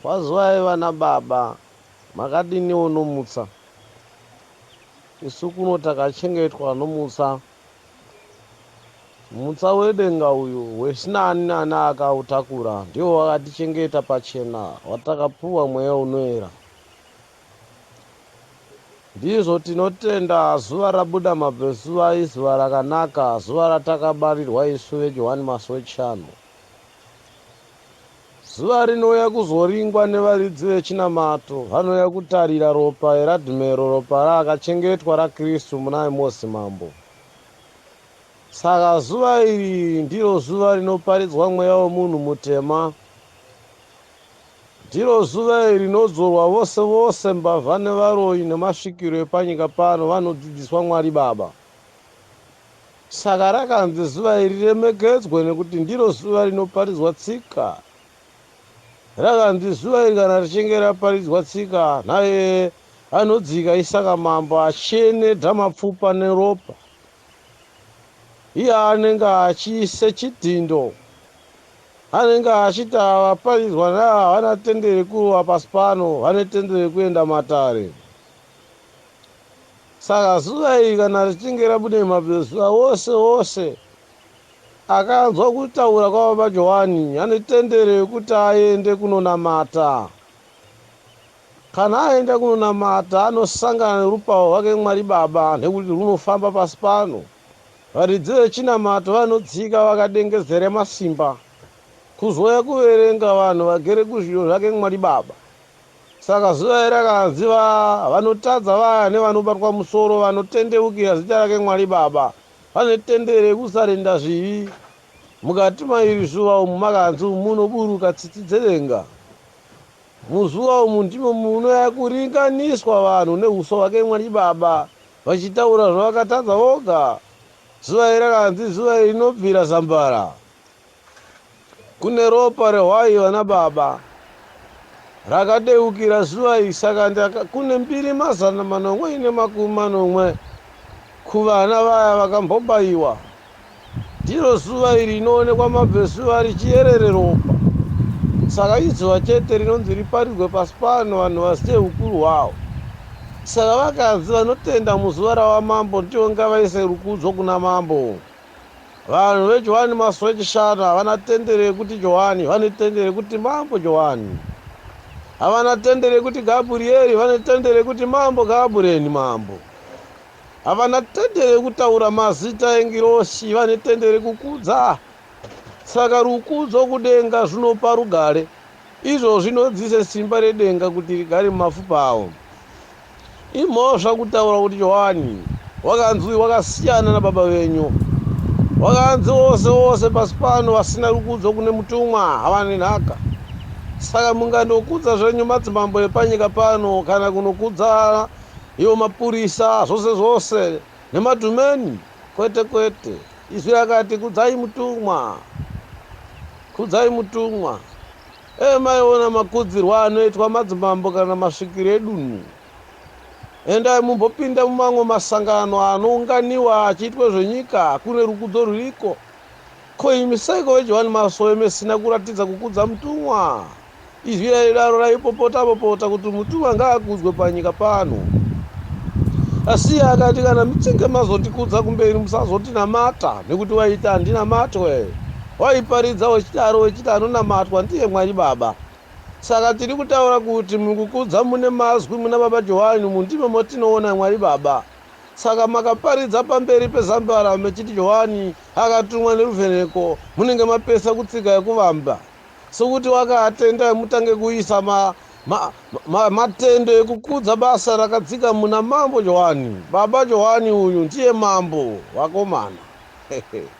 Wazwai vana baba makadiniwo nomutsa isu kuno takachengetwa nomutsa mutsa wedenga uyu hwesina ani nani akautakura ndiwo wakatichengeta pachena watakapuwa mweya unoera ndizvo tinotenda zuva rabuda mabvezuva izuva rakanaka zuva ratakabarirwa isu vejohani masowe chano Zuva rinouya kuzoringwa nevaridzi vechinamato vanouya kutarira ropa eRadmero, ropa raakachengetwa raKristu muna Amosi Mambo. Saka zuva iri ndiro zuva rinoparidzwa mweya wemunhu mutema. Ndiro zuva iri rinodzorwa vose vose mbavha nevaroyi nemasvikiro epanyika pano vanodzidziswa Mwari Baba. Saka rakanzi zuva iri riremekedzwe nekuti ndiro zuva rinoparidzwa tsika. Rakanzi zuva iri kana richinge raparidzwa tsika naye anodzika isaka mambo achienedha mapfupa neropa iye anenge achiise chidhindo anenge achiti ava vaparidzwa naye havana tendere kurova pasi pano vane tendere kuenda matare. Saka zuva iri kana richinge rabuda mazuva ose ose akanzwa kutaura kwaBaba Johani ane tendero yekuti aende kunonamata. Kana aenda kunonamata anosangana nerupawo rwake Mwari Baba nekuti rwunofamba pasi pano. Varidzi vechinamato vanotsika vakadengezera masimba kuzouya kuverenga vanhu vagere kuzviyo zvake Mwari Baba. Saka zuva iri akanzi va, vanotadza vaya nevanobatwa musoro vanotendeukira zita rake Mwari Baba, vane tendere rekusarenda zvivi. Mukati mairi zuva umu makanzi umu munoburuka tsitsi dzedenga. Muzuva umu ndimo munouya kuringaniswa vanhu nehuso hwake Mwari Baba, vachitaura zvavakatadza voga. Zuva iri akanzi zuva iri rinobvira zambara. Kune ropa rehwai vana baba rakadeukira zuva iri saka ndaka kune mbiri mazana manomwe ine makumi manomwe kuvana vaya vakambobaiwa ndiro zuva iri inoonekwa mabvezuva richiyerere ropa saka izuva chete rinonzi riparidzwe pasi pano vanhu vazite ukuru hwawo saka vakadzi vanotenda muzuva rawamambo ndivo ngavaise rukudzo kuna mambo Vanhu veJohani Masowe Chishanu havana tendero yekuti Johani, vane tendero yekuti Mambo Johani. Havana tendero yekuti Gaburieri, vane tendero yekuti Mambo Gabureni, Mambo. Havana tendero yekutaura mazita engirosi, vane tendero yekukudza. Saka rukudzo kudenga zvinopa rugare, izvo zvinodzise simba redenga kuti rigare mumafupa avo. Imhosva kutaura kuti Johani wakanzwi wakasiyana nababa venyu. Wakanzi vose vose pasi pano vasina rukudzo kune mutumwa havane nhaka. Saka mungandokudza zvenyu madzimambo epanyika pano kana kunokudza iwo mapurisa zvose zvose nemadhumeni kwete kwete. Izwi rakati kudzai mutumwa. Kudzai mutumwa. Dai maiona makudzirwa anoitwa madzimambo kana masvikiro edunhu. Endai mumbopinda mumamwe masangano anounganiwa achiitwa zvenyika kune rukudzo ruriko. Ko imi seiko veJohani Masowe mesina kuratidza kukudza mutumwa? Izwi raidaro raipopota popota kuti mutumwa ngaakudzwe panyika pano. Asi iye akati kana muchinge mazotikudza kumberi musazotinamata nekuti waiti handinamatwe. Waiparidza wechidaro wechiti anonamatwa ndiye Mwari Baba. Saka tiri kutaura kuti mukukudza mune mazwi muna Baba Johani umu ndimo motinoona Mwari Baba. Saka makaparidza pamberi pezambarau mechiti Johani akatumwa neruvheneko munenge mapesa kutsika yekuvamba. Sokuti wakaatenda mutange kuisa ma, ma, ma, matendo ekukudza basa rakadzika muna Mambo Johani. Baba Johani uyu ndiye Mambo, vakomana.